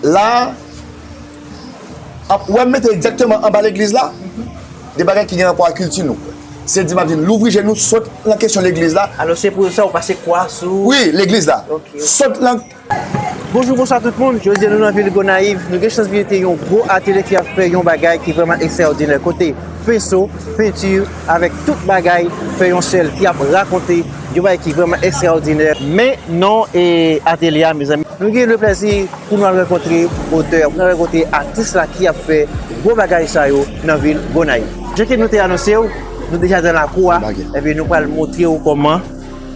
La a, wè m mete egzakteman anba legliz la, de bagay ki gen rapò ak kilti nou. Se di m ap di n, louvri je nou, sot nan kesyon legliz la. Alò se pou sa ou pase kwa sou. Wi, legliz la. Sot nan. Bonjou, bonswa tout moun. Jodi a nou nan vil Gonayiv. Nou gen chans vizite yon gwo atelye ki ap fè yon bagay ki vrèman ekstraòdinè. Kote penso, penti. Avèk tout bagay fè yon sèl ki ap rakonte yon bagay ki vrèman ekstraòdinè. Men non e atelye a mezanmi. Nou gen le plèzi pou nou al rankontre otè a, pou nou al rankontre atis la ki ap fè gwo bagay sa yo nan vil Gonayiv. Jan ke nou te anonse ou, nou deja nan lakou a, enben nou pral montre ou kòman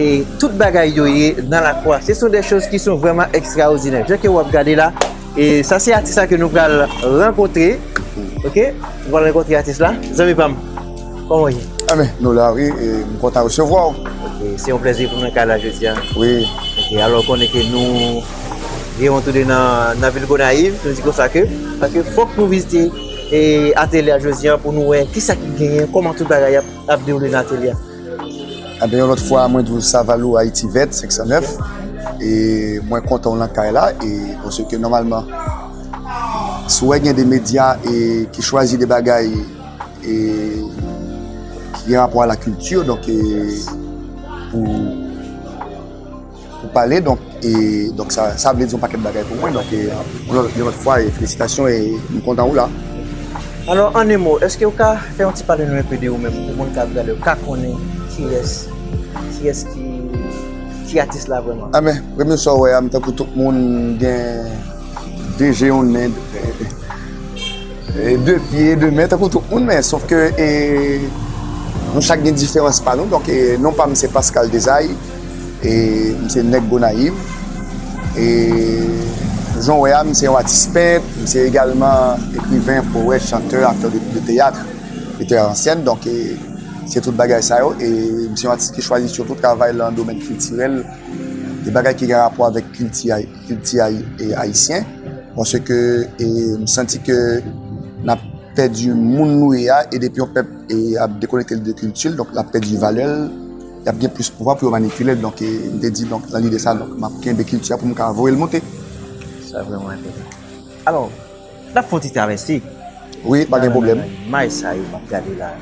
e tout bagay yo ye nan lakou a. Se son de choz ki son vrèman ekstraòdinè. Jan ke ou ap gade la. E sa se atis la ke nou pral rankontre Ok, nou pral rankontre atis la Zanmi pam, kòman ou ye? A men, nou la wi, e m kontan resevwa w Ok, se yon plezi pou m nan kay la jodi a Wi Ok, alò ou konnen ke nou gen yon toude nan vil Gonayiv, nou di konsa ke Paske fòk nou vizite e atelye a jodi a pou nou wè kisa ki genyen, kòman tout bagay ap dewoule nan atelye a. Anben yon lòt fwa mwen di w Saval ou Ayiti Vèt 509 e mwen kontan w nan kay la e pwosè ke nòmalman si w wè gen de medya e ki chwazi de bagay e ki gen rapò a la kilti donk e pou Pou pale donk e donk sa sa vle di yon pakèt bagay pou mwen donk e yon lòt fwa e felisitasyon e m kontan ou la. Alò an 1 mo eske ou ka fè yon ti pale nou enpe de ou menm pou moun kap gade yo ka konnen kiyès kiyès ki ki atis la vrèman. Anben premye sa ou wè a m tankou tout moun m gen 2 je yon nen 2 pye 2 men tankou tout moun men sof ke e nou chak gen diferans pa nou donk e non pa m se Pascal Desai. E m se nèg Gonayiv. E jan w wè a, m se yon atis pent, m se egalman ekriven, powèt, chantè, aktè de teyat, metteur en scène. Donk, se tout bagay sa yo. E m se yon atis ki chwazi sitou travay lan domèn kiltirèl, de bagay ki gen rapò avèk kilti a, kilti a ayisyen. Paske m santi ke n ap pèdi moun nou ye a, e depi yon pèp ap dekonekte l de kilti l, donk l ap pèdi valè l. y ap gen plis pouvwa pou yo manipile l donk m te di donk nan lide sa donk m ap kenbe kilti a pou m ka voye l monte. Sa vrèman enpòtan. Alò, n ap fè yon ti travèse. Wi, pa gen pwoblèm. Nan imaj sa yo m ap gade la.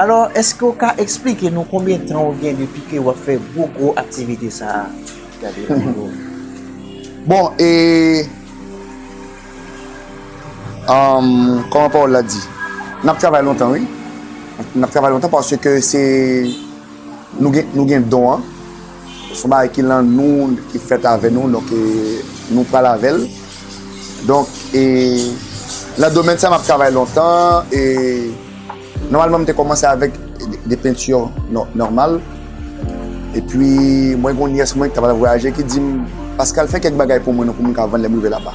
Alò, èske ou ka esplike nou konbyen tan ou gen depi ke ou ap fè gwo gwo aktivite sa a? Gade anwo. Bon, e. Kòman pawòl la di? N ap travay lontan wi. N ap travay lontan paske se nou gen don an. Se yon bagay ki lan nou, ki fèt avè nou. Donk, nou pral avè l. Donk, nan domèn sa a, m ap travay lontan. Nòmalman m te kòmanse avèk de penti nòmal. Epi mwen gen yon nyès mwen ki t ap al vwayaje ki di m, Paskal fè kèk bagay pou mwen non pou m ka vann lè m rive laba.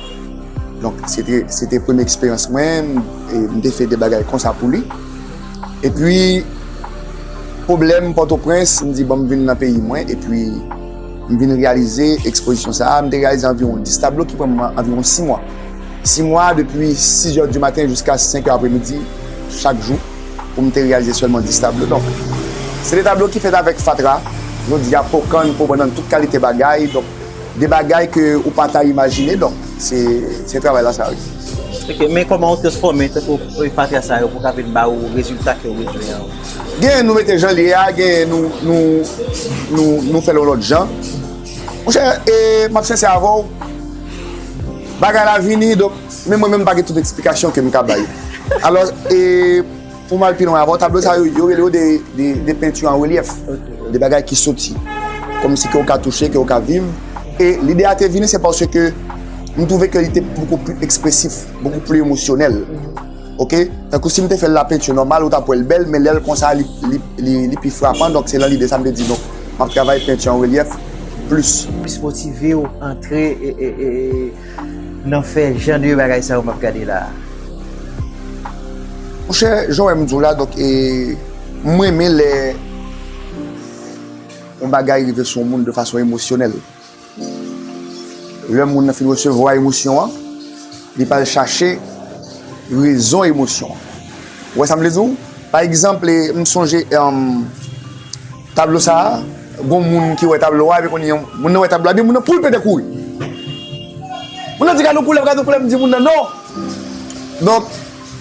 Donk se te premye eksperyans mwen, m te fè de bagay konsa pou li. Epi pwoblèm Pòtoprens, m di bon m vin nan peyi mwen epi m vin reyalize ekspozisyon sa a. M te reyalize anviwon 10 tablo ki pran m anviwon 6 mwa. 6 mwa, depi 6 zè di maten jiska 5 zè apre midi chak jou pou m te reyalize sèlman 10 tablo. Donk, se de tablo ki fèt avèk fatra, jodi a, po kann, po bannann, tout kalite bagay. Donk, de bagay ke ou pa ta imajine. Donk, se travay la sa, wi. Ok, men kòman ou te fòme tankou fatra sa yo pou ka vin ba ou rezilta ke ou bezwen an? Genyen nou mete jan l ye a, genyen nou fè l yon lòt jan. Monchè e map sensè avèw bagay la vini donk menm mwen menm pa gen tout eksplikasyon kem ka bay alò e poum al pi lwen avèw tablo sa yo yo rele yo de penti an relyèf de bagay ki soti kòmsi ke ou ka touche ke ou ka viv e lide a te vini se paske m twouve ke li te poko pli ekspresif poko pli emosyonèl. Ok tankou sim te fèl la peinture normal ou tap wèl bèl men lèl konsa li pi frapan donk se nan lide sam te di nou map travay peinture en relief plus. Plis motivew antre nan fè jan de bagay sa yo map gade la. Monchè jan wèm diw la donk m renmen lè yon bagay rive sou yon moun de fason emosyonèl. Lè moun nan fin resevwa emosyon an, li pral chache rezon emosyon an. Ou wè sa m vle di w? Pa egzanp, m sonje tablo sa a, gon moun ki wè tablo a, epi konnye a, moun nan wè tablo a, epi moun nan pou l pete kouri. Moun nan di gad yon koulèv, gad yon koulèv, m di moun nan non. Donk,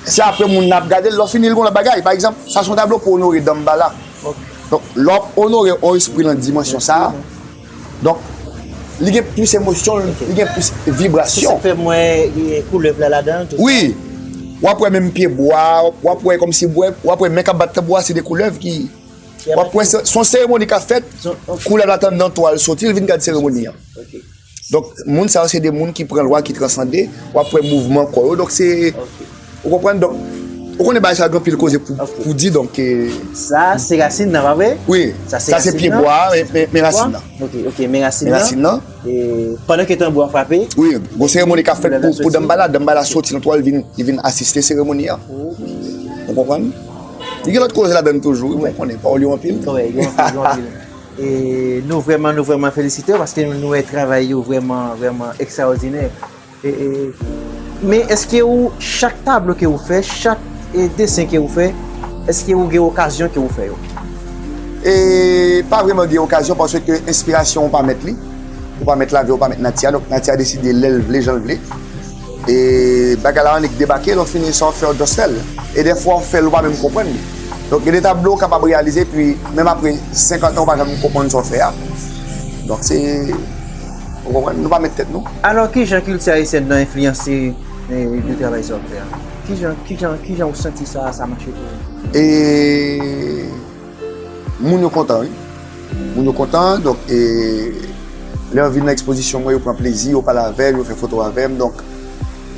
se apre moun nan ap gade l, lè w fini l gon lòt bagay. Pa egzanp, sa se yon tablo pou onore Danmbala. Donk, lè w ap onore yon espri nan dimansyon sa a. Donk, li gen plis emosyon l, li gen plis vibrasyon. Sa fè mwen wè koulèv la ladan l tou sa? Wi! W ap wè menm pye bwa a, w ap wè kòmsi bwa, w ap wè men k ap bat tanbou a se 2 koulèv ki, w ap wè se yon seremoni k ap fèt, koulèv la tann nan to a l soti l vin gad seremoni an. Donk, moun sa yo se 2 moun ki pran lwa, ki transande, w ap wè mouvman kò yo, donk se. Ou konprann donk, ou konnen bagay sa yo gen anpil koze pou di donk e. Sa a se rasin nan pa vre? Wi, sa a se pye bwa a, men rasin nan. Ok, ok, men rasin nan. Men rasin nan. E pandan ke tanbou a frape. Wi, gon seremoni ka fèt pou Danmbala, Danmbala soti nan twal li vin asiste seremoni a. Ok. Ou konprann? Li gen lòt koze ladann toujou, ou konnen, pawòl yo anpil. Wè, yo anpil, yo anpil. E nou vrèman, nou vrèman felisite yo paske nou wè travay yo vrèman, vrèman ekstraòdinè. Men eske ou chak tablo ke ou fè, chak desen ke ou fè, eske ou gen okazyon ke ou fè yo? E pa vreman gen okazyon paske enspirasyon ou pa mèt li, ou pa mèt lavi, ou pa mèt nati a, donk nati a deside lè l vle, jan l vle. E bagay la annik debake, lè w fini sa w fè ou just fè l. E dèfwa ou fè l ou pa menm konprann li. Donk gen de tablo ou kapab reyalize epi menm apre 50 an ou pa janm konprann sa w fè a. Donk se. Ou konprann? Nou pa met tèt nou. Alò ki jan kilti ayisyèn nan enfliyanse de travay sa w ap fè a? Ki jan, ki jan, ki jan ou santi sa, sa mache pou ou? E, moun yo kontan wi. Moun yo kontan, donk e, lè yo vin nan ekspozisyon mwen yo pran plezi, yo pale avè m, yo fè foto avè m, donk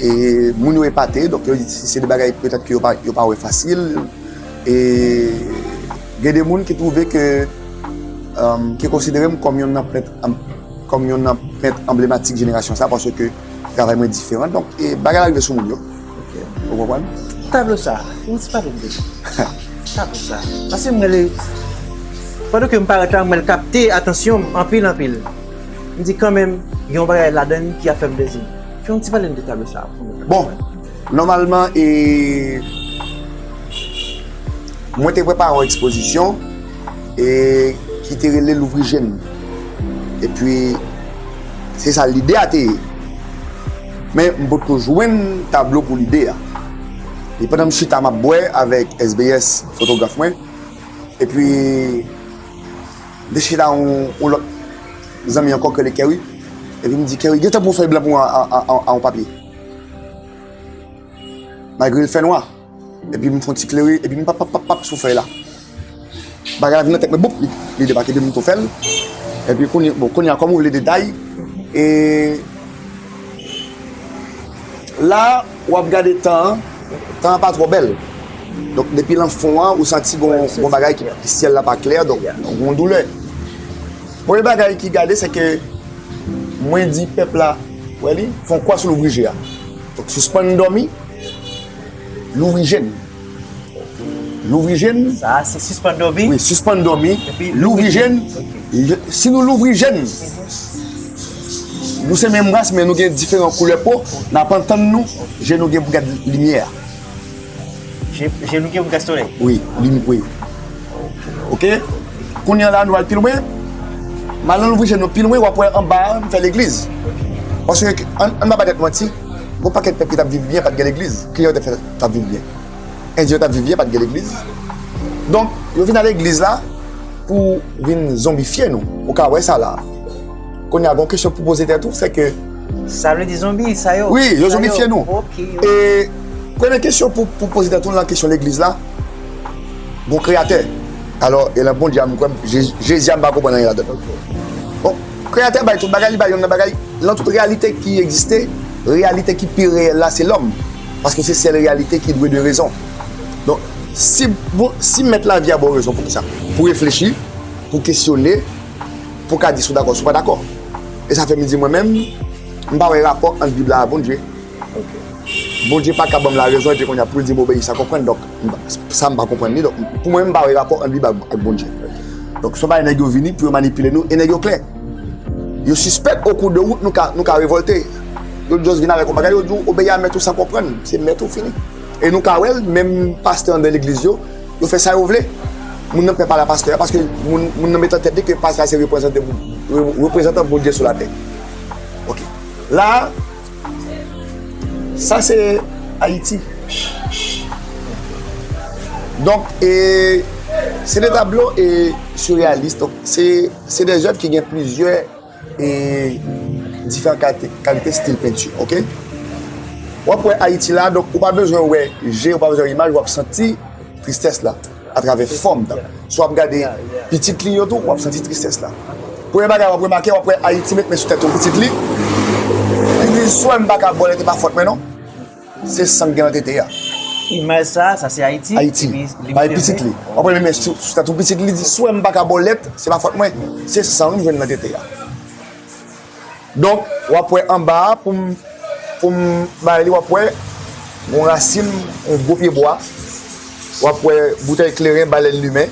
e, moun yo epate, donk yo di se de bagay petèt ke yo pa, yo pa wè fasil. E, gen de moun ki twouve ke, ki konsidere m kòm yonn nan pent. Kòm yonn nan pent anblematik jenerasyon sa paske travay mwen diferan donk bagay la rive sou moun yo ou konprann. Tablo sa yon ti pale de tablo sa paske mwen li pandan ke m parèt la mwen kapte atansyon m anpil anpil m di kanmenm gen yon bagay ladan li ki ap fè m plezi fè yon ti pale m de tablo sa pou mwen. Bon nòmalman e mwen te prepare yon ekspozisyon. e ki te rele louvri je n epi se sa lide a te ye men m pot ko jwenn tablo pou lide a e pandan m chita m ap bwè avèk SBS fotograf mwen epi m te chita ak yon lòt zanmi ankò ki rele Kerry epi m di Kerry gen tan pou w fè blan pou mwen an papye malgre l fè nwa. Epi m fon ti klere, epi m pap pap pap pap sou fèy la. Bagay la vin nan tèt mwen boup, li debake epi m tou fè l. Epi kounye, bon kounye a kòm ou vle detay, e la w ap gade tan an, tan an pa twò bèl. Donk depi lan fon an ou santi gon bagay ki, syèl la pa klè, donk gon doulè. Premye bagay ki gade se ke mwen di pèp la, wè li, fon kwa sou louvri je a. Donk sispann dòmi. Louvri je n. Louvri je n. Sa a se sispann dòmi? Wi, sispann dòmi. Epi louvri je n. Si nou louvri je n, nou se menm ras men nou gen diferan koulè po, n ap antann nou, je nou gen pou gad limyè a. Je nou gen pou gad solèy? Wi, limyè, wi. Ok? Kounye an la nou al pi lwen. Mal nan louvri je nou pi lwen, w ap wè anba a, m fè legliz. Paske, an n pa ba tèt manti. Gon pakèt pèp ki tap viv byen pat gen legliz, kijan yo te fè tap viv byen? Endyen yo tap viv byen pat gen legliz. Donk yo vin nan legliz la pou vin zonbifye nou, ou ka wè sa la. Kounye a gon kesyon pou poze tèt ou, se ke. Sa vle di zonbi sa yo? Wi, yo zonbifye nou. E premye kesyon pou poze tèt ou nan kesyon legliz la, gon kreyatè. Alò e lan Bondye a m kwè, Jezi a m pa konprann anyen ladan l. Kreyatè bay tout bagay, li bay yonn nan bagay, lan tout reyalite ki egziste, reyalite ki pi reyèl la se lòm, paske se sèl reyalite ki dwe de rezon. Donk, si, bon, si mèt lavi a ba w rezon, pou kisa? Pou reflechi, pou kesyone, pou w ka di si w dakò, si w pa dakò. E sa fè m di mwen menm, m pa wè rapò ant Bib la a Bondye. Bondye pa ka ban m larezon epi kounye a pou l di m obeyi sa. Konprann? Donk, sa m pa konprann li. Donk, pou mwen, m pa wè rapò ant Bib ak Bondye. Donk, son bagay nèg yo vini pou yo manipile nou e nèg yo klè. Yo sispèk okou de wout nou ka revòlte. Yo just vin avèk yon bagay, yo di w obeyi a mèt ou san konprann. Se mèt ou, fini. E nou ka wè l, menm pastè anndan legliz yo, yo fè sa yo vle. Moun nan p fè pale a pastè a paske moun nan met nan tèt li ke pastè a se reprezante, reprezantan Bondye sou latè. Ok. La a. Sa se Ayiti. Donk, e, se de tablo e surrealist. Donk, se, se de zèv ki gen plizyè e diferan kalite, kalite stil penti. Ok? Wap wè Ayiti la, donk ou pa bezwen wè je, ou pa bezwen wè imaj, wap santi tristès la. atravè fòm nan. Si w ap gade pitit li yo tou, w ap santi tristès la. Premye bagay w ap remake, w ap wè Ayiti met men sou tèt yon pitit li, li di, Swè m pa ka vole, te pa fòt mwen non. Se san k gen nan tete a. Imaj sa a, sa se Ayiti? Ayiti. Bay pitit li. W ap wè l met men sou tèt yon pitit li, li di, Swè m pa ka bòlèt, se pa fòt mwen. Se san m jwenn nan tete a. Donk, w ap wè anba a pou m pou m bay li w ap wè yon rasin yon gwo pyebwa, w ap wè boutèy kleren balèn limen.